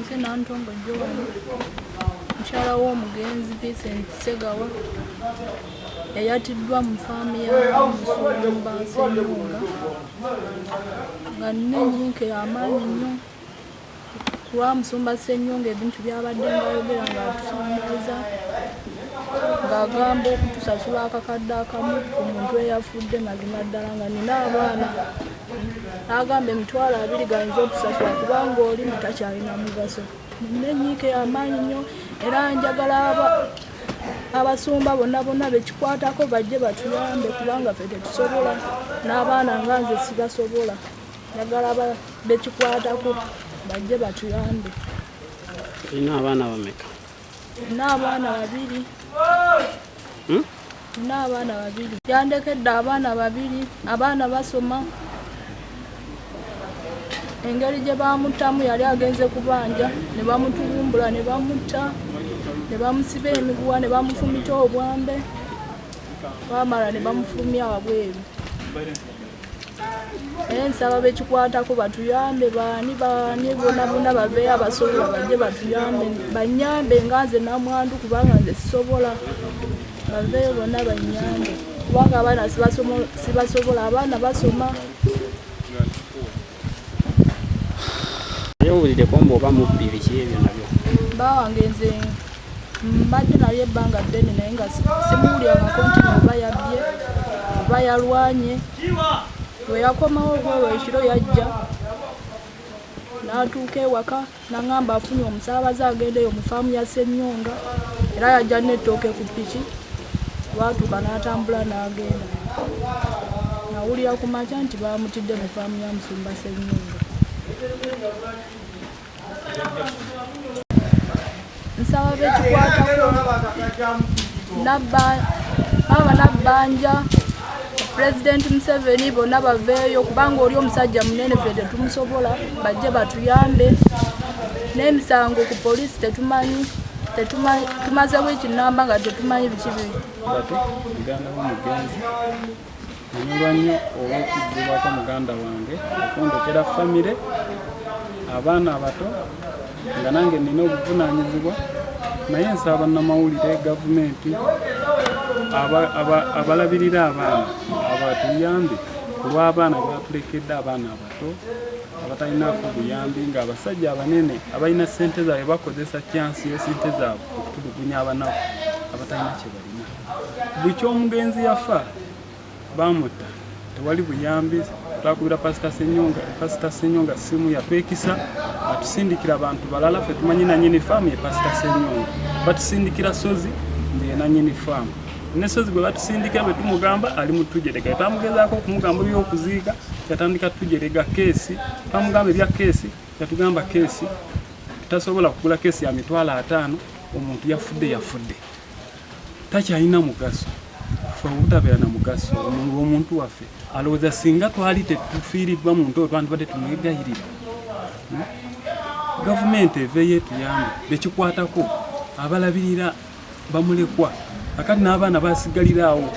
nze nantongo jowani mukyala w'omugenzi vincent segawa yayatiddwa mu faamu yamusumba senunga nga nina enyinka ey'amaanyi nnyo kuba musumba sennyonga ebintu byabadde ngaayogera ng'atusuumiza ng'agamba okutusasula akakadde akamu ku muntu eyafudde mazima ddala nga nina abaana agamba emitwalo abiri gayinza okusasula kubanga oli mutakyalina mugaso nina enyiika eyamaanyi nnyo era njagala abasumba bonna bonna bekikwatako bajje batuyambe kubanga fe tetusobola n'abaana nga nze sibasobola njagala bekikwatako bajje batuyambe olina abaana bameka Nina abaana babiri. Hmm? Nina abaana babiri. Yandekedde abaana babiri. Abaana basoma. Engeri gye baamuttamu yali agenze kubanja ne bamutugumbula ne bamutta ne bamusiba emiguwa ne bamufumita obwambe baamala ne bamufulumya wabweru. naye nsaba bekikwatako batuyambe baani baani bonabona baveyo abasobola baje batuyambe banyambe nga nze namwandu kubanga nze sisobola baveyo bona banyambe kubanga abaana sibasobola abaana basoma owulideko mbu oba mubbi biki ebyo nabyo bawange nze mbadde naye ebbanga ddene naye nga simuwulirangako nti oba yabbye oba yalwanye weyakomawo ogwolwo ekiro yajja natuuka ewaka Nangamba afunye omusaabaze agendeyo mu faamu ya Ssennyonga era yajja n'ettooke ku ppiki lwatuuka n'atambula n'agenda. Nawulira ku makya nti baamutidde mu faamu ya Musumba Ssennyonga. nsaba bekikwatako nabba baba nabbanja pulezidenti museveni bonna baveeyo kubanga oli omusajja munene fe tetumusobola bajje batuyambe n'emisango ku poliisi tetumanyi tumaze wiiki namba nga tetumanyi biki biri Nyolwa nnyo olw'okuggibwako muganda wange okundekera famire abaana abato nga nange nina obuvunaanyizibwa naye nsaba bannamawulire gavumenti abalabirira abaana abatuyambe ku lw'abaana batulekedde abaana abato abatalinaako buyambi ng'abasajja abanene abalina ssente zaabwe bakozesa kyansi y'esente zaabwe okutulugunya abanaku abatalina kye balina Bukya omugenzi yafa baamutta, tewali buyambi. Twakubira pasita Senyonga, pasita Senyonga simu yatwekisa, atusindikira abantu balala fe tumanyi nanyini faamu ye pasita Senyonga, batusindikira Sozi ndiye nanyini faamu ne Sozi gwe batusindikira bwe tumugamba ali mu tujerega, twamugezaako okumugamba ebyokuziika yatandika tujerega keesi, twamugamba ebya keesi yatugamba keesi tasobola kugula keesi ya mitwalo ataano omuntu yafudde yafudde. takyalina mugaso fe obutabeera na mugaso omuntu waffe alowooza singa twali tetufiiriddwa muntu oyo twandibadde tumwegayirira hmm? gavumenti eveeyo etuyambe bekikwatako abalabirira bamulekwa akati n'abaana basigalira awo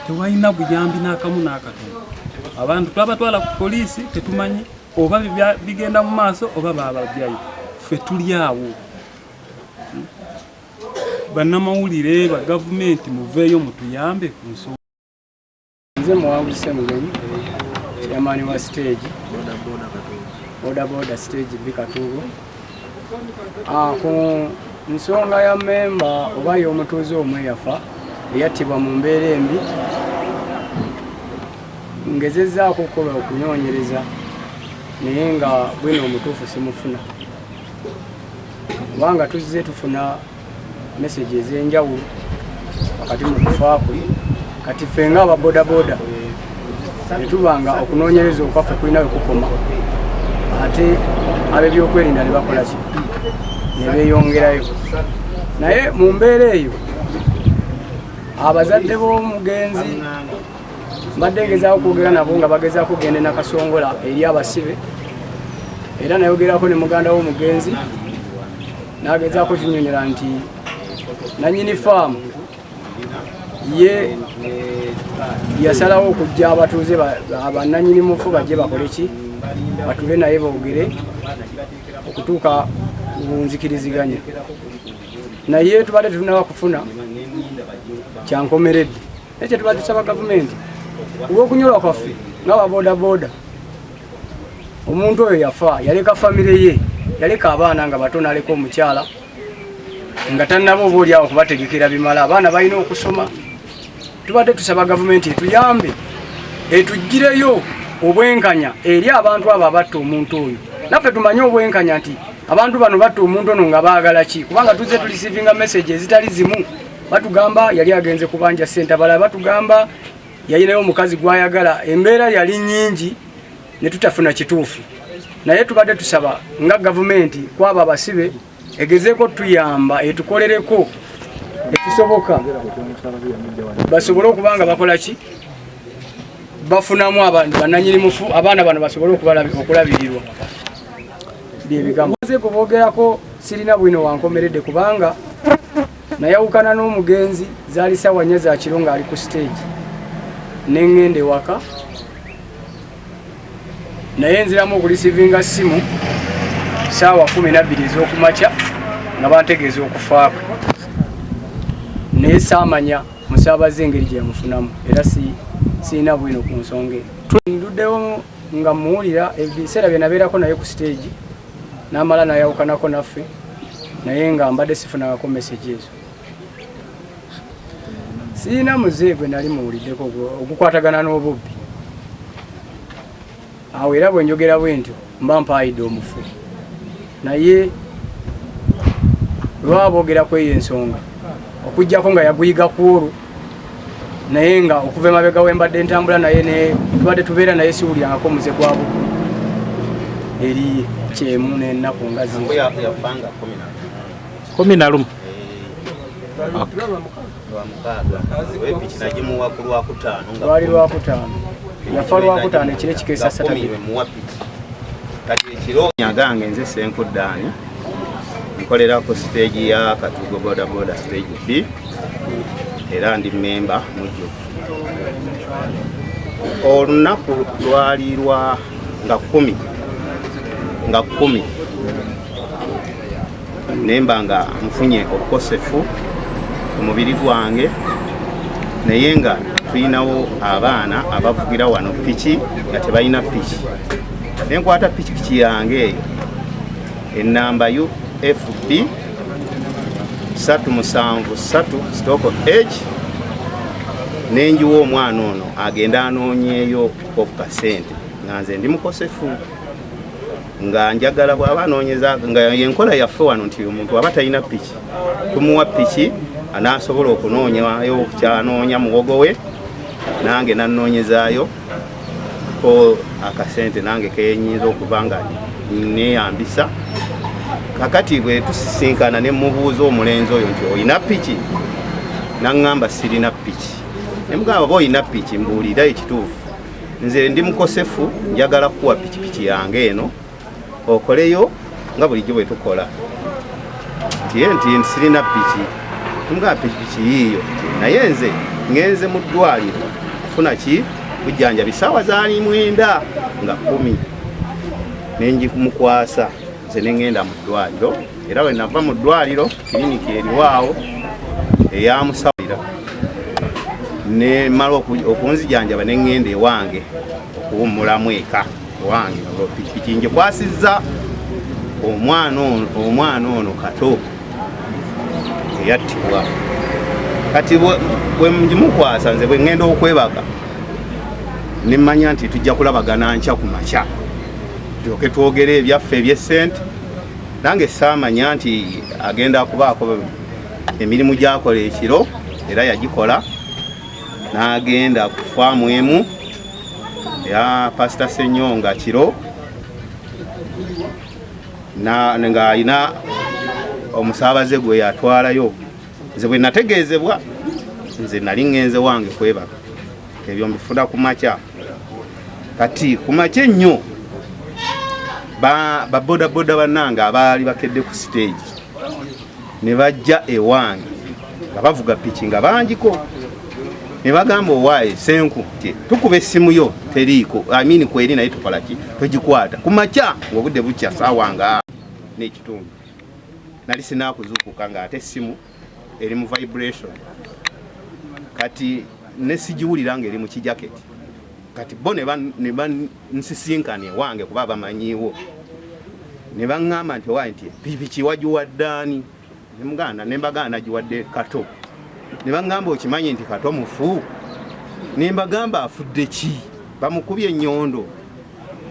tewalina buyambi n'akamu n'akatono abantu twabatwala ku poliisi tetumanyi oba bigenda mu maaso oba bababyayo fe tuli awo Bannamawulire ba gavumenti muveeyo mutuyambe ku nsonga. Nze Muwangu Ssemugenyi, chairman wa siteegi bodaboda siteegi bbi Katuugo. Ah, ku nsonga ya memba oba y'omutuuze omu eyafa eyattibwa mu mbeera embi ngezezzaako okukola okunoonyereza naye nga bwino omutuufu simufuna kubanga tuzze tufuna meseji ez'enjawulo wakati mu kufa kwe kati ffe nga aba bodaboda netuba nga okunoonyereza okwaffe kulina we kukoma ate ab'ebyokwerinda ne bakola ki ne beeyongerayo naye mu mbeera eyo abazadde b'omugenzi mbadde ngezaako okwogera nabo nga bagezaako okugenda nakasongola eri abasibe era nayogerako ne muganda w'omugenzi nagezaako kinyonyola nti nanyini faamu ye yasalawo okujja abatuuze bananyini mufu bajje bakole ki batule naye boogere okutuuka bunzikiriziganya naye tubadde tetunaba kufuna kyankomeredde naye kyetuba tusaba gavumenti olwokunyolwa kwaffe nga babodaboda omuntu oyo yafa yaleka famire ye yaleka abaana nga bato naleka omukyala nga tanaba oba olyawo kubategekera bimala abaana balina okusoma tubadde tusaba gavumenti etuyambe etugireyo obwenkanya eri abantu abo abatta omuntu oyo naffe tumanye obwenkanya nti abantu bano batta omuntu ono nga baagala ki kubanga tuzze tulisivinga message ezitali zimu batugamba yali agenze kubanja sente abalala batugamba yayinayo omukazi gwayagala embeera yali nyingi ne tutafuna kituufu naye tubadde tusaba nga gavumenti kwabo abasibe egezeeko tuyamba etukolereko ekisoboka basobole okuba nga bakola ki bafunamu abantu bananyini mufu abaana bano basobole okulabirirwa byebigambo bogerako sirina bwino wankomeredde kubanga Nayawukana n'omugenzi zaali ssaawa nnya za kiro ng'ali ku siteegi ne ŋŋenda ewaka naye nziramu okulisivinga ssimu ssaawa kumi nabbiri ez'okumakya nga bantegeeza okufaako naye saamanya musaabaze engeri gye yamufunamu era sirina bwino ku nsonga eyo nduddewo nga muwulira ebiseera bye nabeerako naye ku siteegi n'amala n'ayawukanako naffe naye nga mbadde sifunangako mesegi ezo sirina muze gwe nali muwuliddeko ogukwatagana n'obubbi awo era bwe njogera bwe ntyo mba mpaayidde omufu naye lwaboogera kweyo ensonga okujjako nga yaguyiga kwolwo naye nga okuva emabega wembadde ntambula naye ne tubadde tubeera naye siwulyangako muze gwabu eri kyemu nenaku nga kumi na lumu lwali lwakutaano yafa lwakutaano ekiro ekikeesa satanyagange nze senkuddaani nkolera ku siteegi ya katugo bodaboda siteegi b era ndi memba mujjuvu olunaku lwali lwa nga kumi nga kumi nemba nga nfunye obukosefu omubiri gwange naye nga tulinawo abaana abavugira wano piki nga tebalina piki nenkwata pikipiki yange eyo ennamba ufb 373 sitoko h nenjiwa omwana ono agenda anoonyeeyo okukasente nga nze ndi mukosefu nga njagala bwaba anoonyeza nga enkola yaffe wano nti omuntu aba talina piki tumuwa piki anaasobola okunoonyayo kyanoonya muwogo we nange nanoonyezaayo ko akasente nange kenyinza okuba nga neyambisa kakati bwe tusisinkana ne mubuuza omulenzi oyo nti olina piki naŋŋamba sirina piki ne mugamba oba olina piki mbuulira ekituufu nze ndi mukosefu njagala kukuwa pikipiki yange eno okoleyo nga bulijjo bwe tukola nti nti sirina piki nga pikipiki yiiyo naye nze ngenze mu ddwaliro kufuna ki bujjanjabi saawa zaali mwenda nga kumi nenjimukwasa nze nengenda mu ddwaliro era we nava mu ddwaliro kiriniki eriwaawo eyamusawulira nemala okunzijanjaba nengenda ewange okuwummulamu eka owange pikipiki ngikwasizza omwana ono kato eyattibwa kati bwemugimukwasa nze bwengenda okwebaga nemanya nti tujja kulabagana nkya ku makya tulyoke twogere ebyaffe ebyesente nange saamanya nti agenda kubaako emirimu gyakola ekiro era yagikola n'agenda ku faamu emu ya pasita senyonga kiro ng'alina omusaabaze gwe yatwalayo nze bwe nategeezebwa nze nali ŋŋenze wange kwebaka ebyo mbifuna ku makya kati ku makya ennyo babodaboda bannange abaali bakedde ku siteegi ne bajja ewange nga bavuga piki nga bangiko ne bagamba owaaye senku ti tukuba essimu yo teriiko amini kweri naye tukola ki togikwata ku makya ng'obudde bukya saawa nga n'ekitundu nali sinaakuzuukuka nga ate essimu eri mu vibration kati ne sigiwulira ng'eri mu kijaketi kati bo ne nsisinkana ewange kuba bamanyiiwo ne baŋŋamba nti owaye nti pikipiki wagiwaddaani ne muganda ne mbaganda giwadde kato ne baŋŋamba okimanyi nti kato mufu ne mbagamba afudde ki bamukubye ennyondo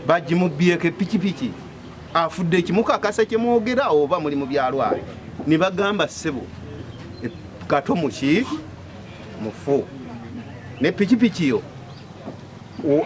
bagimubbyeko epikipiki afudde ekimukakasa kyemwogera oba muli mu byalwale ne bagamba ssebo e, kato muki mufu ne pikipiki yo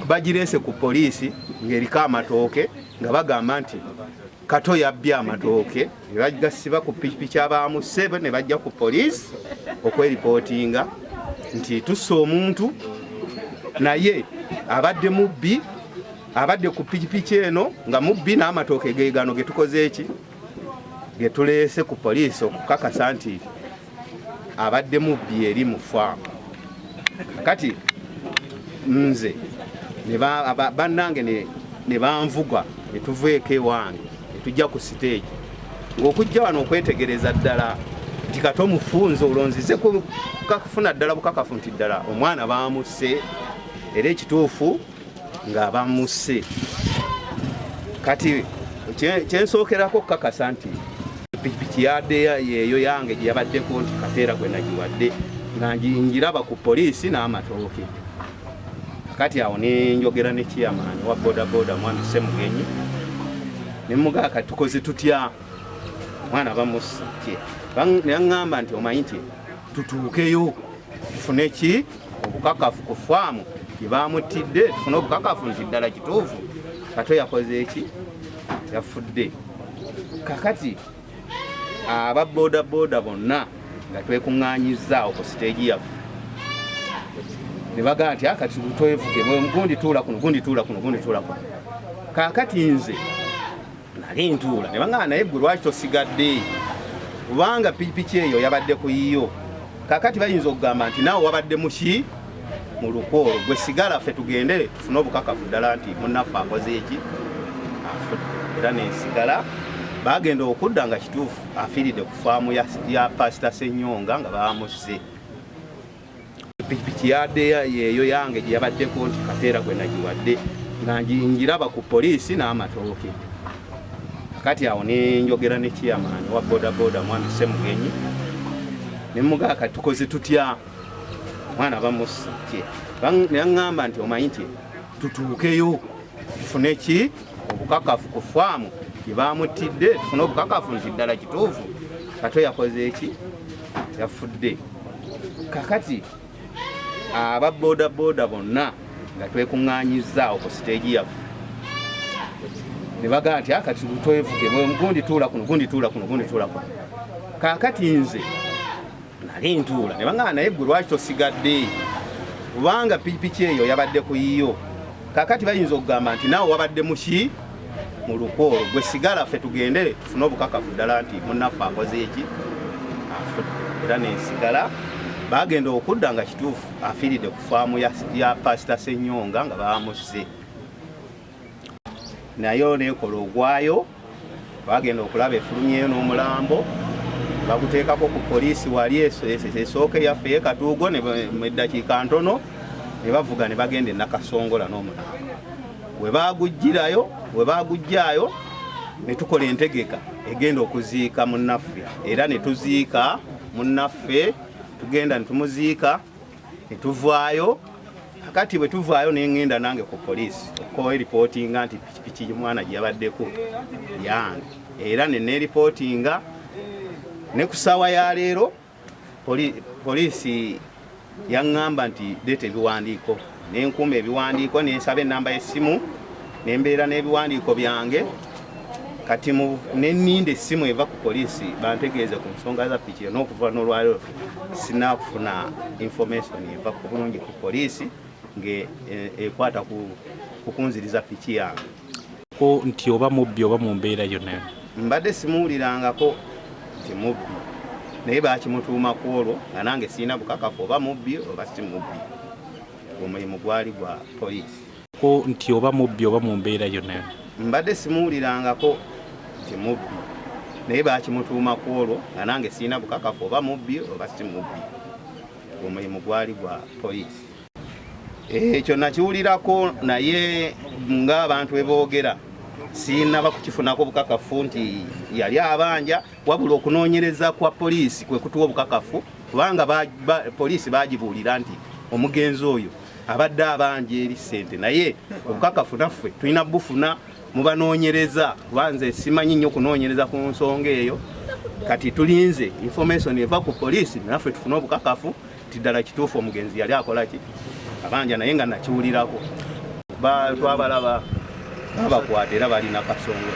bagireese ku poliisi ng'eriko amatooke nga bagamba nti kato yabbye amatooke ne bagasiba ku pikipiki abaamusse ne bajja ku poliisi okweripootinga nti tusse omuntu naye abadde mubbi abadde ku pikipiki eno nga mubbi n'amatooke geegano ge tukoze eki ge tuleese ku poliisi okukakasa nti abadde mubbi eri mu faamu kati nze bannange ne banvuga ne tuveeko ewange ne tujja ku siteegi ng'okujja wano okwetegereza ddala nti kati omufunza olonzize kufuna ddala bukakafu nti ddala omwana baamusse era ekituufu nga bamusse kati kyensookerako okukakasa nti pikipiki yadeya yeeyo yange gye yabaddeko nti kateera gwe nagiwadde nga ngiraba ku poliisi n'amatooke kati awo nenjogera ne kiyamaani wa bodaboda mwana semugenyi nemugaa kati tukoze tutya mwana bamusitye neaŋŋamba nti omanyi nti tutuukeyo tufune ki obukakafu ku faamu gye baamuttidde tufune obukakafu nti ddala kituufu kato yakoze eki yafudde kakati aba bodaboda bonna nga twekuŋŋanyizza awo ku siteegi yaffe ne bagamba nti akati ah, twevuge gundi tuula kuno gundi tuula kuno gundi tuula kuno kakati nze nali ntuula ne bangamba naye gwe lwaki tosigadde kubanga pikipiki eyo yabadde ku yiyo kakati bayinza okugamba nti naawe wabadde muki mu lukwo olwo gwe sigala ffe tugende tufune obukakafu ddala nti munnaffe akoze eki afudde era nensigala bagenda okudda nga kituufu afiiridde ku faamu ya pasita senyonga nga bamuzze pikipiki yadde yeeyo yange gye yabaddeko nti kateera gwe nagiwadde nga ngiraba ku poliisi n'amatooke kati awo nenjogera ne chairman wa bodaboda mwami Semugenyi nemugaa kati tukoze tutya mwana bamusitye neyaŋŋamba nti omanyi nti tutuukeyo tufune ki obukakafu ku faamu gye baamuttidde tufune obukakafu nti ddala kituufu kato yakoze eki yafudde kakati aba boda boda bonna nga twekuŋŋaanyizzaawo ku siteegi yaffe ne bagamba nti ah, kati twevuge gundi tuula kuno gundi tuula kuno gundi tuula kuno kaakati nze nali ntuula ne bagamba naye gwe lwaki tosigadde kubanga pikipiki eyo yabadde ku yiyo kakati bayinza okugamba nti naawe wabadde muki mu lukwo olwo gwe sigala ffe tugende tufune obukakafu ddala nti munaffe akoze eki afudde era nensigala bagenda okudda nga kituufu afiiridde ku faamu ya pasita senyonga nga bamusse nayo nekola ogwayo Baagenda okulaba efulumyeyo n'omulambo baguteekako ku poliisi wali esooka eyaffe ye Katuugo mu eddakiika ntono ne bavuga ne bagenda e Nakasongola n'omulambo we baaguggyirayo we baaguggyaayo ne tukola entegeka egenda okuziika munnaffe era ne tuziika munnaffe tugenda ne tumuziika netuvaayo kati bwe tuvaayo nengenda nange ku poliisi okukowa eripootinga nti pikipiki mwana gyeyabaddeko yange era neneripootinga ne ku saawa ya leero poliisi yaŋŋamba nti deeta ebiwandiiko nenkuuma ebiwandiiko nensaba enamba y'essimu nembeera n'ebiwandiiko byange kati neninda essimu eva ku poliisi bantegeeze ku nsonga za pikiro n'okuva n'olwaliro sinakufuna information eva ku bulungi ku poliisi ngaekwata eh, ku kunziriza piki yange ko nti oba mubbi oba mu mbeera yonna mbadde simuwulirangako nti mubbi naye bakimutuuma ku olwo nga nange sirina bukakafu oba mubbi oba si mubbi omulimu gwali gwa poliisi ko nti oba mubbi oba mu mbeera yonna mbadde simuwulirangako nti mubbi naye bakimutuuma ku olwo nga nange sirina bukakafu oba mubbi oba si mubbi omulimu gwali gwa poliisi ekyo eh, nakiwulirako naye ng'abantu beboogera sinaba kukifunako bukakafu nti yali abanja wabula okunoonyereza kwa poliisi kwe kutuwa obukakafu kubanga poliisi bagibuulira nti omugenzi oyo abadde abanja eri ssente naye obukakafu naffe tulina bufuna mubanoonyereza kuba nze simanyi nnyo kunoonyereza ku nsonga eyo kati tulinze information eva ku poliisi naffe tufune obukakafu nti ddala kituufu omugenzi yali akola ki abanja naye nga nakiwulirako twabalaba babakwata era balina kasonga